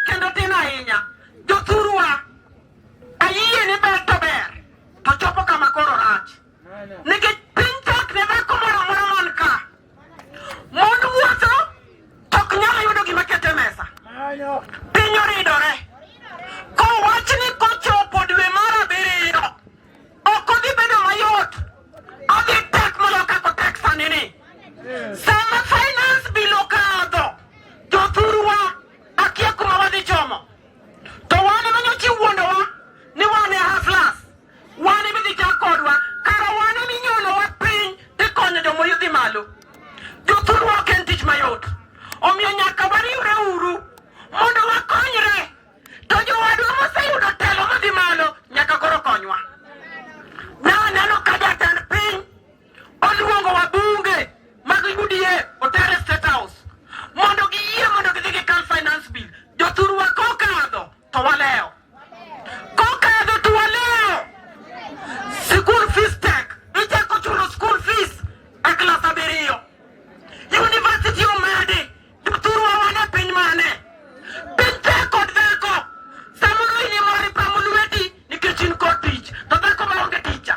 kendo tin ahinya jothurwa ayie ni ber to ber to chopo kama koro rach nikech piny tek ne dhako moro amora man ka mond wuotho to ok nyal yudo gima kete mesa piny oridore kowach ni kochopo dwe mar abiriyo ok odhi bedo mayot odhi tek moloyo kako tek sani ni sama finance bill okadho jothurwa Akia kuma wadhi chomo. To wane ma nyochi wuondowa ni wane haflas. Wane midhi chak kodwa. Kara wane minyono wa piny tikonyo jomo yudhi malo. Jothurwa ok en tich mayot. Omiyo nyaka wariwre uru mondo wakonyre. To jowadwa moseyudo telo madhi malo nyaka koro konywa. Oluongo wabunge mag UDA otere State House mondo giyie mondo gidhi gi Cal Finance Bill. Jothurwa kokadho to walewo. Kokadho to walewo. School fees tek. Ichako chulo school fees e klas abiriyo. University omedi. Jothurwa wan e piny mane? Piny tek kod dhako. Samoro in ema oripamo lweti nikech in kod tich. To dhako maonge tija.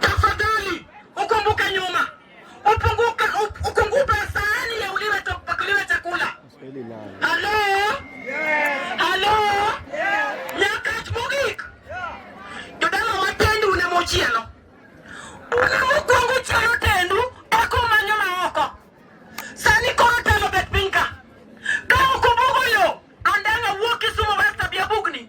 Tafadhali ukumbuke nyuma, upunguke ukungupe sahani ya uliwe pakuliwe chakula. Halo, halo, nyakach mogik jodala watendi une mochielo une mokwongo chielo tendu eko manyo maoko sani koro telo bet pinka ka okumbuko yo andanga wuok Kisumu basta bia bugni